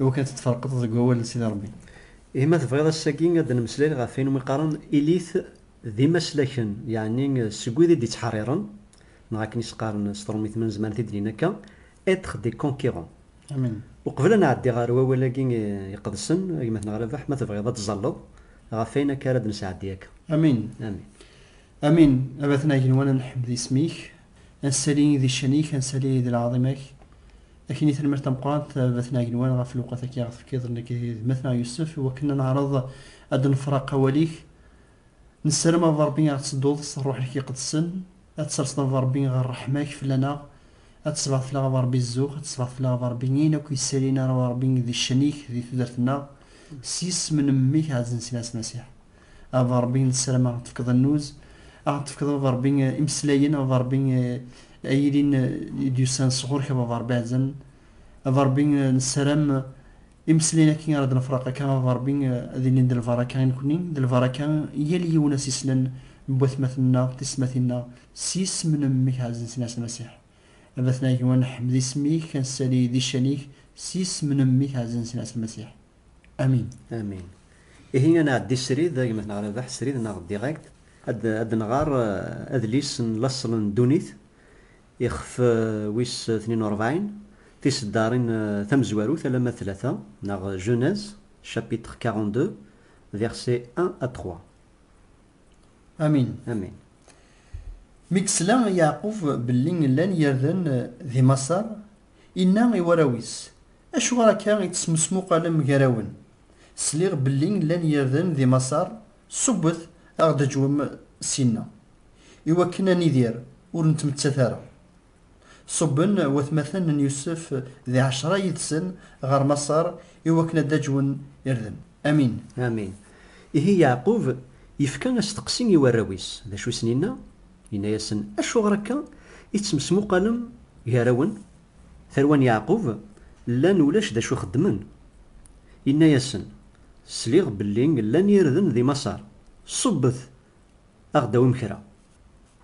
Iwakken ad t-tferqeḍ deg wawal n Sidi Rebbi. Ihi ma tebɣiḍ ass-agi ad d-nemmeslay ɣef wayen umi qqaren ilit d imaslaken, yeɛni seg wid i d-ittḥerriren, neɣ akken i s-qqaren s trumit ma nezmer ad t-id-nini akka, être des conquérants. Amin. Uqbel ad nɛeddi ɣer wawal-agi iqedsen, a gma-tneɣ Rabeḥ, ma tebɣiḍ ad d-tzalleḍ ɣef wayen akka ara d-nesɛeddi akka. Amin. Amin. Amin. A batna igenwan ad nḥemmed isem-ik, A Sali di ccan-ik, a Sali di lɛaḍima-k, a k-ini tanemmirt tameqqrant a Baba-tneɣ Agenwan ɣef lewqat-agi i aɣ-tefkiḍ nekk d gma-tneɣ Yusef i wakken a neɛreḍ ad d-nefra aqawal-ik. Nessaram a Baba Rebbi a ɣ-tsedduḍ s Rruḥ-ik Iqedsen, a d-tserseḍ a Baba Rebbi ɣer ṛṛeḥma-k fell-aneɣ, a d-tesbeɛdeḍ fell-aɣ a Baba Rebbi zzux, a d-tesbeɛdeḍ fell-aɣ a Baba Rebbi ayen akk yessalin a Baba Rebbi di ccan-ik di tudert-nneɣ, s yisem n Mmi-k Ɛazen Sina Asmasiḥ. A Ṛebbi, nessarameɣ ad aɣ-d-tefkeḍ annuz, ad aɣ-d-tefkeḍ a Baba Ṛebbi imeslayen a Baba Ṛebbi ay yilin i d-yusan sɣur-k a Baba Ṛebbi ɛzan. A Baba Ṛebbi, nessaram imeslayen akkin ara d-nefreq akka a Baba Ṛebbi ad ilin d lbaraka i nekkni, d lbaraka i yal yiwen asislel n watmaten-nneɣ, tiyesmatin-nneɣ, s yisem n Mmi-k ɛzizen s Ɛisa Masiḥ. A Batna Agejdan, nḥemmed isem-ik, ad nessali di ccan-ik s yisem n Mmi-k ɛzizen s Ɛisa Masiḥ. Amin. Amin. Ihi ad nɛeddi srid, gma n Rabaḥ, srid neɣ direct, ad nɣer eh, adlis n laṣel n ddunit, ixef eh, wis tnin u rebɛin, tiseddarin eh, tamezwarut alamma d tlata, neɣ Genèse, chapitre 42, versets 1 à 3. Amin. Amin. Mi d-tesla Yeɛqub belli llan yirden eh, di Maṣer, inna i warraw-is, Acuɣer akka i tesmusmuqalem gar-awen? Sliɣ belli llan yirden di Maṣer, ṣubbet a ɣ-d-ǧwem syenna, i wakken a nidir, ur nettmettat ara. Ṣubben watmaten n Yusef d ɛecra yid-sen ɣer Maṣer i wakken a d-ǧwen irden. Amin. Amin. Ihi Yeɛqub yefka asteqsi i warraw-is, d acu i sen-yenna? Yenna-yasen, Acuɣer akka i tesmesmuqalem gar-awen? Tarwa n Yeɛqub llan ulac d acu xeddmen. Yenna-yasen, Sliɣ belli llan yirden di Maṣer, ṣubbet aɣ-d awim kra.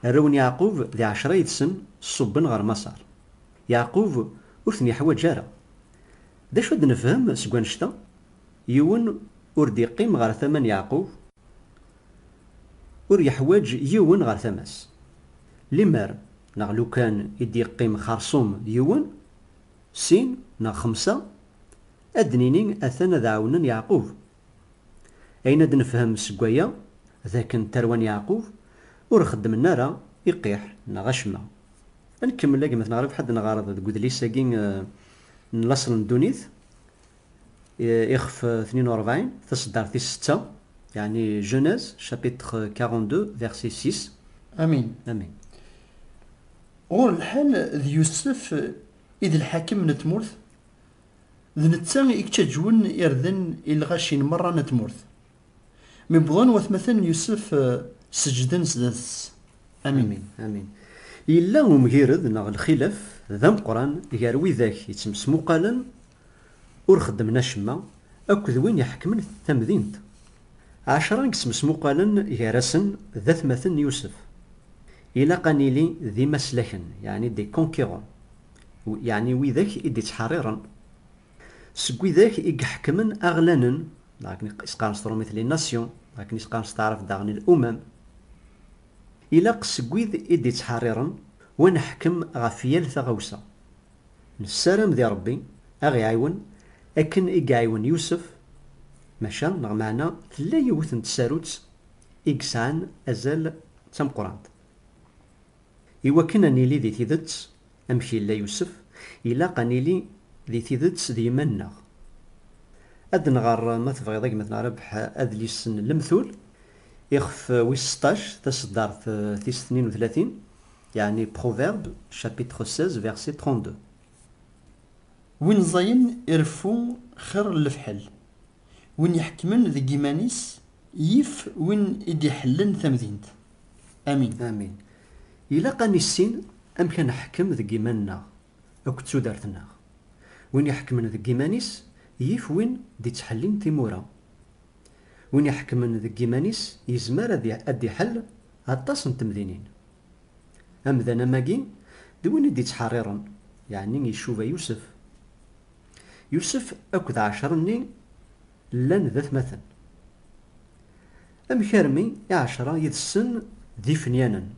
Arraw n Yeɛqub di ɛecra yid-sen ṣubben ɣer Maṣer. Yeɛqub ur ten-yeḥwaǧ ara. D acu ad nefhem seg wannect-a? Yiwen ur d-yeqqim ɣer tama n Yeɛqub. Ur yeḥwaǧ yiwen ɣer tama-s. Limer neɣ lukan i d-yeqqim xersum d yiwen, sin neɣ xemsa, ad d-nini atan ad ɛawnen Yeɛqub. Ayen ad nefhem seg waya d akken tarwa n Yeɛqub ur xeddmen ara iqiḥ neɣ acemma. Ad nkemmel a gma-tneɣ Ribḥa ad d-nɣer deg udlis-agi n Laṣel n ddunit Ixef 42, taseddart tis setta, yeɛni Genèse, chapitre 42, verset 6. Amin. Amin. Ɣur lḥal, d Yusef i d lḥakem n tmurt, d netta i yettaǧwen irden i lɣaci n merra n tmurt. Mi wwḍen watmaten n Yusef, seǧǧden sdat-s. Amin. Amin. Yella umgired neɣ lxilaf d ameqqran gar widak yettmesmuqalen Ur xeddmen acemma akk d win iḥekmen tamdint. Ɛecra i yesmesmuqalen gar-asen d atmaten n Yusef. Ilaq ad nili d imaslaken, yeɛni des conquérants, yeɛni widak i d-ittḥeṛṛiṛen. Seg widak i iḥekmen aɣlanen, neɣ akken i s-qqaren s trumit les nations, neɣ akken i s-qqaren s taɛrabt daɣen l'umam. Ilaq seg wid i d-ittḥeṛṛiṛen, wa neḥkem ɣef yal taɣawsa. Nessaram di Ṛebbi a ɣ-iɛiwen akken i iɛiwen Yusef, maca neɣ meɛna tella yiwet n tsarut i yesɛan azal d tameqqrant. I wakken a nili di tidet amek yella Yusef, ilaq a nili di tidet d yiman-nneɣ. Ad d-nɣer ma tebɣiḍ a gma-tneɣ Rabeḥ adlis n Lemtul, ixef wis seṭṭac, taseddart tis tnin u tlatin, Yeɛni Proverbes chapitre 16 verset 32. Win ẓẓayen ireffu xir n lefḥel, win iḥekkmen deg yiman-is yif win i d-iḥellen tamdint. Amin. Amin. Ilaq ad nissin amek ad neḥkem deg yiman-nneɣ akked tudert-nneɣ. Win iḥekkmen deg yiman-is yif win d-ittḥellin timura. Win iḥekkmen deg yiman-is yezmer ad d-iḥell Aṭas n temdinin. Amdan amagi d win i d-ittḥerriren, yeɛni icuba Yusef. Yusef akked ɛecra-nni llan d atmaten. Amek armi i ɛecra yid-sen d ifenyanen,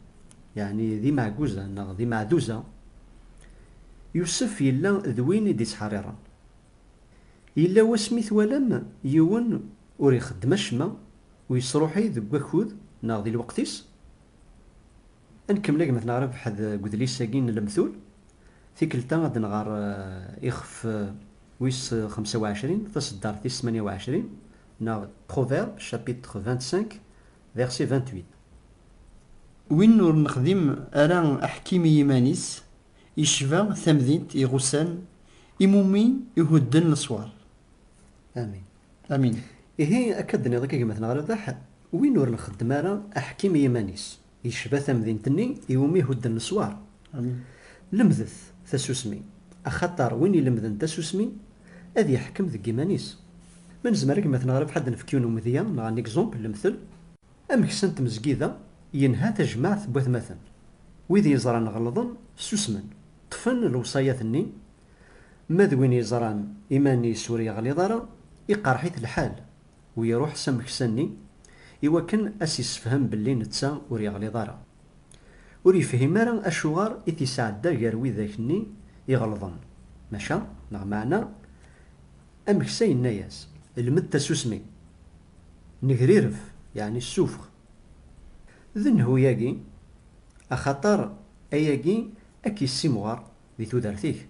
yeɛni d imeɛguza neɣ d imeɛduza? Yusef yella d win i d-ittḥerriren. Yella wasmi twalam yiwen Ur ixeddem acemma ur yesruḥuy deg wakud neɣ di lweqt-is. Ad nkemmel agmat neɣ rebḥed deg udlis-agi n Lemtul. Tikkelt-a ad nɣer ixef wis xemsa u ɛecrin, taseddart tis tmanya u ɛecrin, neɣ Proverbes chapitre vingt-cinq verset vingt-huit. Win ur nexdim ara aḥkim i yiman-is, yecba tamdint iɣusan imumi ihudden leswar. Amin. Amin. Ihi, akka d-tenniḍ akka gma-tneɣ a Rabaḥ, win ur nxeddem ara aḥkim i yiman-is, yecba tamdint-nni i wumi i hudden leswar. Amin. Lemdet tasusmi, axaṭer win ilemden tasusmi, ad yeḥkem deg yiman-is. Ma nezmer a gma-tneɣ Rabaḥ ad d-nefk yiwen umedya neɣ un exemple, lemtel, ameksa n tmezgida yenha tajmaɛt n watmaten, wid yeẓran ɣelḍen susmen, ṭṭfen lewṣayat-nni, Ma d win yeẓran iman-is ur yeɣliḍ ara, iqerreḥ-it lḥal u iruḥ s ameksa-nni i wakken a s-issefhem belli netta ur yeɣliḍ ara. Ur yefhim ara acuɣer i t-isɛedda gar widak-nni iɣelḍen, maca neɣ meɛna ameksa yenna-yas. Lmed tasusmi, negrireb, yeɛni ssufɣ. D nnhu-yagi, axaṭer ayagi a k-yessimɣer Di tudert-ik,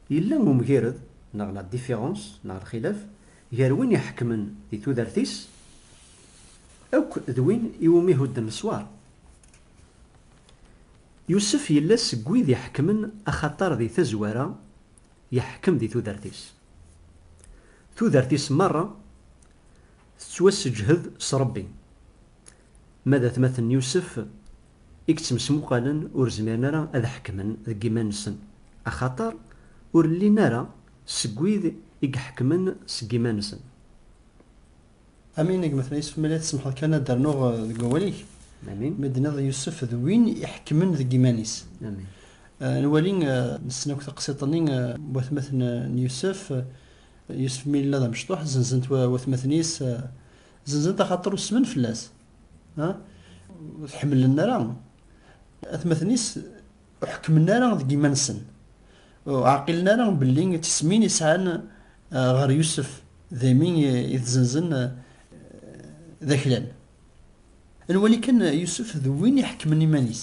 yella umgired neɣ la différence neɣ lxilaf gar win iḥekmen di tudert-is akk d win iwumi hudden leswar? Yusef yella seg wid iḥekmen axaṭer di tazwara yeḥkem di tudert-is. Tudert-is merra tettwasseǧhed s Rebbi, Ma d atmaten n Yusef i yettmesmuqalen ur zmiren ara ad ḥekmen deg yiman-nsen, axaṭer ur llin ara seg wid i iḥekmen seg yiman-nsen. Amin a gma-tneɣ Yusef Mela tsemḥeḍ kan ad rnuɣ deg wawal-ik Amin. mi d-tenniḍ Yusef d win iḥekmen deg yiman-is. Amin. Nwali, nessen akk taqsiḍt-nni n watmaten n Yusef, Yusef Mela d amecṭuḥ, zzenzen-t watmaten-is, Zenzent axaṭer usmen fell-as. Ur t-ḥemmlen ara. Atmaten-is ur ḥekkmen ara deg yiman-nsen. Ur ɛqilen ara belli d tismin i sɛan ɣer Yusef daymi i t-zenzen d aklan. Ad nwali kan Yusef d win iḥekkmen iman-is.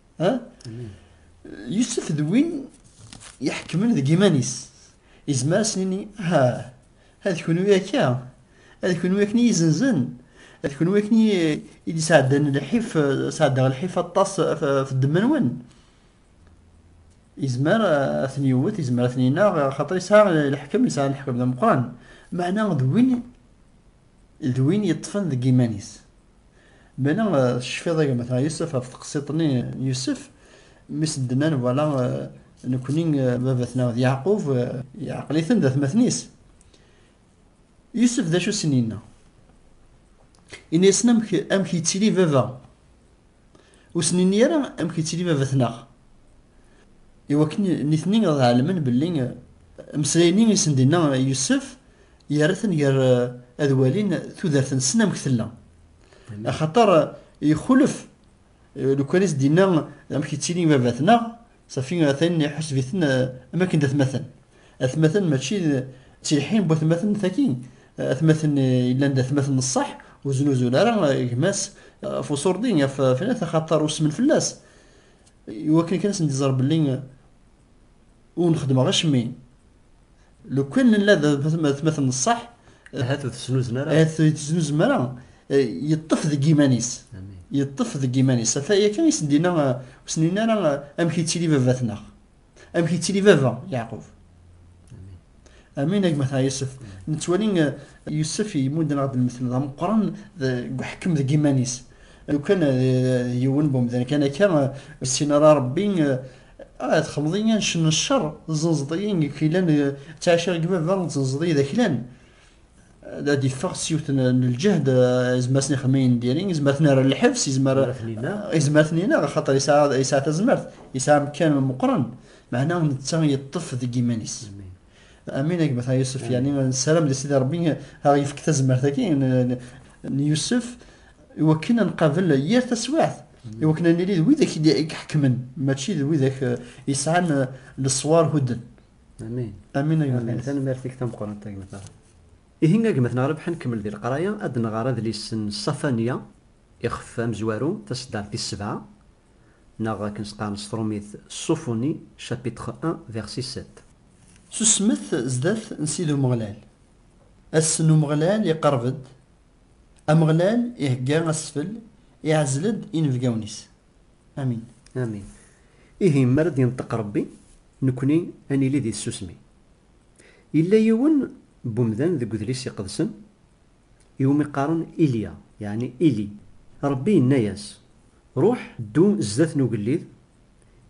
ha Yusef d win iḥekmen deg iman-is izmer ad s-nini ha ad kunwi akka ad kunwi akken iyi-izenzen ad kunwi akken iyi-d-isɛeddan lḥif sɛeddaɣ lḥif aṭas ɣef ddemma-nwen izmer ad ten-yewwet izmer ad ten-ineɣ xaṭer yesɛa lḥekem yesɛa lḥekem d ameqqran meɛna d win D win yeṭṭfen deg yiman-is. Mela tecfiḍ a gma-tneɣ Yusef ɣef teqsiḍt-nni n Yusef, mmi-s n Dnan, wala nekkni baba-tneɣ d Yeɛqub, yeɛqel-iten d atmaten-is. Yusef d acu i sen-yenna? Yenna-yasen amek yettili baba. Ur sen-inni ara amek yettili baba-tneɣ. Iwakken nitni ad ɛelmen belli ameslay-nni i sen-d-inna Yusef yerra-ten gar ad walin tudert-nsen amek tella. Axaṭer ixulef lukan i s-d-inna amek yettili baba-tneɣ, Safi atan iḥuseb-iten am akken d atmaten. Atmaten mačči d ttilḥin n watmaten tagi. Atmaten yellan d atmaten n ṣṣeḥ, ur znuzun ara gma-s ɣef uṣurdi, ɣef fnat, axaṭer usmen fell-as. Iwakken kan ad sen-d-iẓer belli ur nxeddmeɣ acemmi. Lukan nella d atmaten n ṣṣeḥ, Ahat ur tesnuzem ara. ahat ur tesnuzem ara, yeṭṭef deg yiman-is, yeṭṭef deg yiman-is. Ata yakan i sen-d-yenna, ur sen-yenni ara amek yettili baba-tneɣ, amek yettili baba Yeɛqub. Amin, a gma Tɛa Yusef, nettwali Yusef yemmudden-aɣ-d lmetl d ameqqran deg uḥekkem deg yiman-is. Lukan d yiwen n umdan kan akka, ur yessin ara Ṛebbi, Ah, txelmeḍ-iyi ad ncen ccer, tzenzeḍ-iyi deg aklan, ttɛiceɣ deg baba, tzenzeḍ-iyi d aklan. Ad d-iffeɣ s yiwet n lǧehd, izmer ad sen-ixdem ayen n diri, izmer ad ten-err ɣer lḥebs, izmer ad ten-ineɣ, axaṭer yesɛa tazmert, yesɛa amekkan meqqren, meɛna netta yeṭṭef deg yiman-is. Amin gma ta Yusuf mm. yani nessaram di Sidi Rebbi ad yefk tazmert-agi n Yusuf i wakken ad nqabel yir taswiɛt mm. i wakken ad nili d widak i iḥekmen mačči d widak eh, yesɛan eh, leṣwar hudden. Amin. Amin gma. Tanemmirt-ik tameqqrant gma ta. Ihi gma ta Rebḥa nkemmel di leqraya ad nɣer adlis n Safaniya ixef amezwaru taseddart tis sebɛa Neɣ akken s-qqaren s trumit, Sophonie, chapitre un, verset sept. Susmet zdat n Sidi Umeɣlal. Ass n Umeɣlal iqerreb-d. Ameɣlal ihegga asfel, iɛzel-d inebgawen-is. Amin. Amin. Ihi, mi ara d-yenṭeq Rebbi, nekkni ad nili di tsusmi. Yella yiwen n umdan deg Udlis Iqedsen, iwumi qqaren Ilya, yeɛni Ili. Ṛebbi yenna-yas, Ṛuḥ, ddu zdat n ugellid,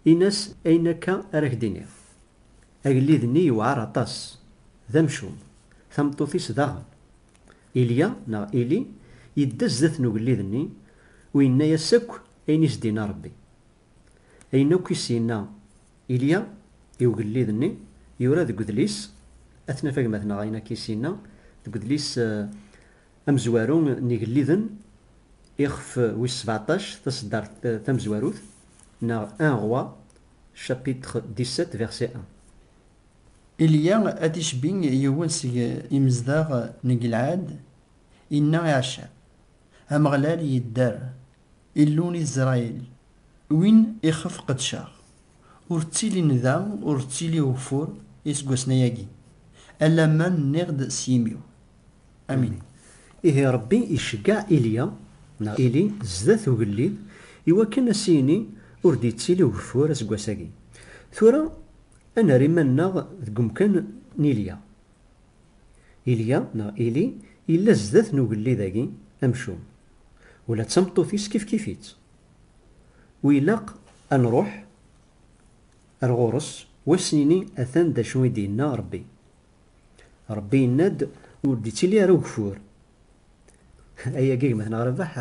in-as ayen akka ara ak-d-iniɣ. Agellid-nni yewɛeṛ aṭas, d amcum, tameṭṭut-is daɣen. Ilya, neɣ Ili, yedda zdat n ugellid-nni u yenna-yas akk ayen i s-d-inna Ṛebbi. Ayen akk i s-yenna Ilya i ugellid-nni yura deg udlis, ad t-naf agmat-nneɣ ayen akk i s-yenna deg udlis amezwaru n Igelliden, ixef wis sbeɛṭac, taṣeddart tamezwarut, neɣ Un roi, chapitre dix-sept, verset un. Ilya ad d-icbi yiwen seg imezdaɣ n Gilɛad, inna i Ɛacab, Ameɣlal yedder, Illu n Isṛayil, win ixef qedceɣ. Ur ttilin da, ur ttili ugeffur iseggasen-ayagi, alamma nniɣ-d s yimi-w. Amin. Ihi Ṛebbi iceggeɛ Ilya, neɣ Ili, zdat ugellid, iwakken a s-yini, Ur d-yettili ugeffur aseggas-agi. Tura, a nerr iman-nneɣ deg umkan n Ilya. Ilya, neɣ Ili, yella zdat n ugellid-agi amcum. Ula d tameṭṭut-is kifkif-itt. Wi ilaq a nruḥ ar ɣur-s u a s-nini atan d acu i d-yenna Rebbi. Rebbi yenna-d ur d-ittili ara ugeffur. Ayagi gma-tneɣ Rabaḥ,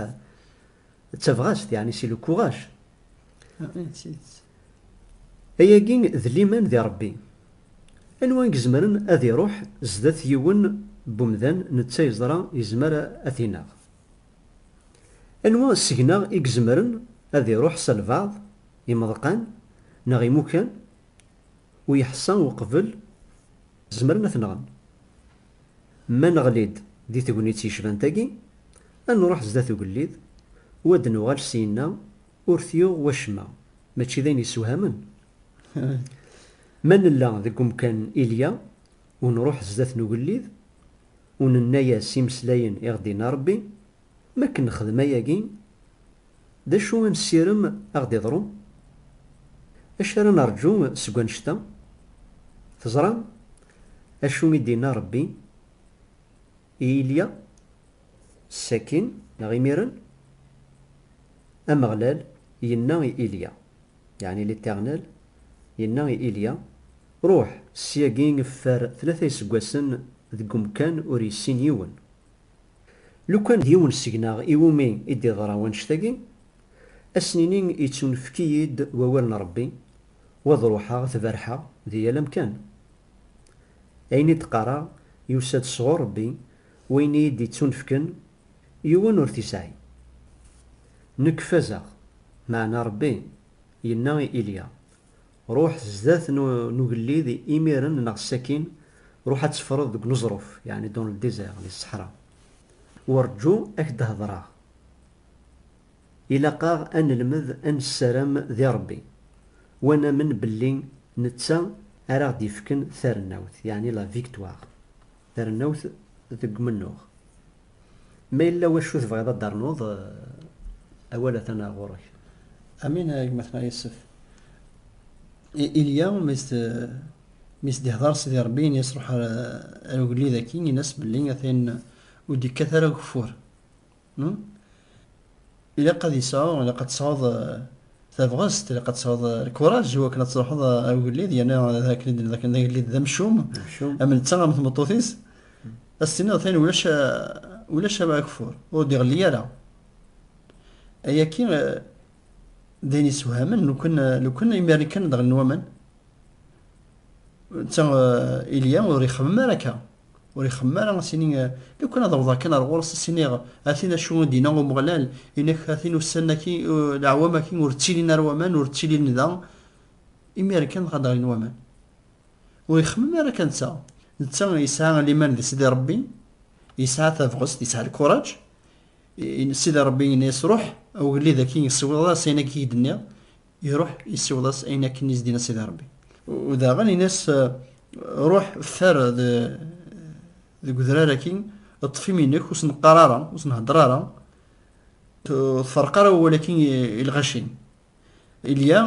d tabɣast, yeɛni si le courage Ayagi d liman di Ṛebbi. Anwa i izemren ad iṛuḥ zdat yiwen n umdan netta yeẓra yezmer ad t-ineɣ? Anwa seg-neɣ i izemren ad iṛuḥ s albeɛḍ, imeḍqan neɣ imukan, u yeḥṣa uqbel zemren ad t-nɣen? Ma neɣli-d di tegnit yecban tagi, ad nruḥ zdat ugellid u ad nuɣal syenna ur t-yuɣ wacemma, mačči d ayen yessewhamen? Ma nella deg umkan ilya u nruḥ zdat n ugellid u nenna-yas imeslayen i ɣ-d-yenna Rebbi, Mi akken nexdem ayagi, d acu i nessirem a ɣ-d-iḍrun? D acu ara nerǧu seg wannect-a? Teẓram acu i d-yenna Rebbi i Ilya sakkin neɣ imiren? Ameɣlal yenna i Ilya, yeɛni L'Éternel yenna i Ilya, Ruḥ, syagi ffer tlata iseggasen deg umkan ur yessin yiwen, Lukan d yiwen seg-neɣ i wumi i d-iḍra wannect-agi, ad s-nini yettunefk-iyi-d wawal n Rebbi, u ad ruḥeɣ ad t-berrḥeɣ di yal amkan. Ayen i d-qqareɣ yusa-d sɣur Rebbi, wayen i yi-d-ittunefken, yiwen ur t-isɛi. Nekk fazeɣ, meɛna Rebbi yenna i Ilya, Ruḥ zdat n ugellid imiren neɣ sakkin ruḥ ad teffreḍ deg uneẓruf, yeɛni dans le désert, di ṣṣeḥra, u rǧu ad k-d-hedreɣ. Ilaq-aɣ ad nelmed ad nessaram di Rebbi, u ad namen belli netta ara aɣ-d-yefken tarennawt, yeɛni la victoire, tarennawt deg umennuɣ. Ma yella wacu tebɣiḍ ad d-ternuḍ, awal atan ɣur-k. Amin a gma-tneɣ Yessef. Ilya mi s-d-ihḍer Sidi Ṛebbi ini-as ruḥ ar ugellid-agi, ini-as belli atan ur d-yekkat ara ugeffur. Ilaq ad yesɛu, ilaq ad tesɛuḍ tabɣest, ilaq ad tesɛuḍ lkuraj i wakken ad truḥeḍ a ugellid, yerna d akken i d-nenna dakken d agellid d amcum, am netta am tmeṭṭut-is, ad s-tiniḍ atan ulac ulac ageffur, ur d-iɣelli ara. Ayagi d ayen yessewhamen lukan lukan imir-nni kan ad ɣelin waman, netta Ilya ur ixemmem ara akka. Ur ixemmem ara ad s-ini, Lukan ad awḍeɣ kan ar ɣur-s ad s-iniɣ, A tin acu i d-yenna Umeɣlal, ini-ak, a tin ussan-agi, leɛwam-agi ur ttilin ara waman, ur ttilin da, imir-n kan dɣa ad d-ɣlin waman. Ur ixemmem ara akka netta. Netta yesɛa liman di Sidi Rebbi, yesɛa tabɣest, yesɛa lkuraǧ. Sidi Rebbi yenna-as, Ruḥ, a ugellid-agi, ssiwḍeḍ-as ayen-agi i k-d-nniɣ. Iruḥ isiweḍ-as ayen akken i s-d-yenna Sidi Ṛebbi. U daɣen yenna-as, Ruḥ ffer deg udrar-agi, ṭṭef imi-nnek, ur sen-qqar ara, ur sen-heddeṛ ara, ur tferreq ara awal-agi i lɣaci-nnem. Ilya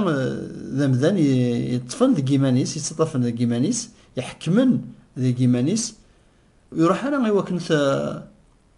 d amdan yeṭṭfen deg yiman-is, yettaṭṭafen deg yiman-is, iḥekkmen deg yiman-is, ur iruḥ ara i wakken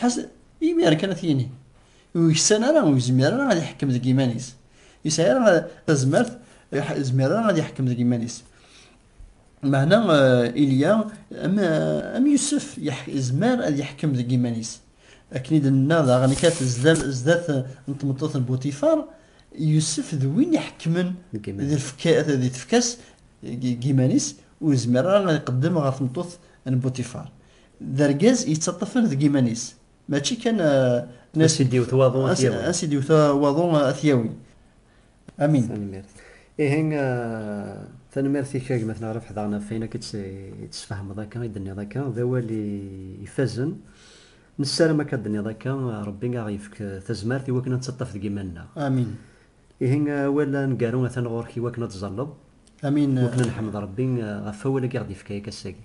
Ḥasen, imir kan ad t-yini. Ur yeksan ara, ur yezmir ara ad iḥekkem deg iman-is. Yesɛi ara tazmert, yezmir ara ad iḥekkem deg iman-is. Meɛna eh, Ilya, am, eh, am Yusef, yezmer ad iḥekkem deg iman-is. Akken i d-nenna daɣen kat zdat n tmeṭṭut n Butifar, Yusef d win iḥekmen di tefka-s deg iman-is, ur yezmir ara ad iqeddem ɣer tmeṭṭut n Butifar. d argaz yettaṭṭafen deg iman-is mačči kan as i d-iwet waḍu ad t-yawi as i d-iwet waḍu ad t-yawi amin tanemmirt ihi tanemmirt-ik a gma tneɣref ḥdaɣen ɣef wayen akka tt-sfehmeḍ akka i d-tenniḍ akka d awal ifazen nessaram akka d-tenniḍ akka rebbi a ɣ-yefk tazmert i wakken ad nettaṭṭaf deg iman-nneɣ amin ihi awal aneggaru atan ɣur-k i wakken ad tẓalleḍ amin wakken ad neḥmed rebbi ɣef awal-agi ɣ-d-yefka akka ass-agi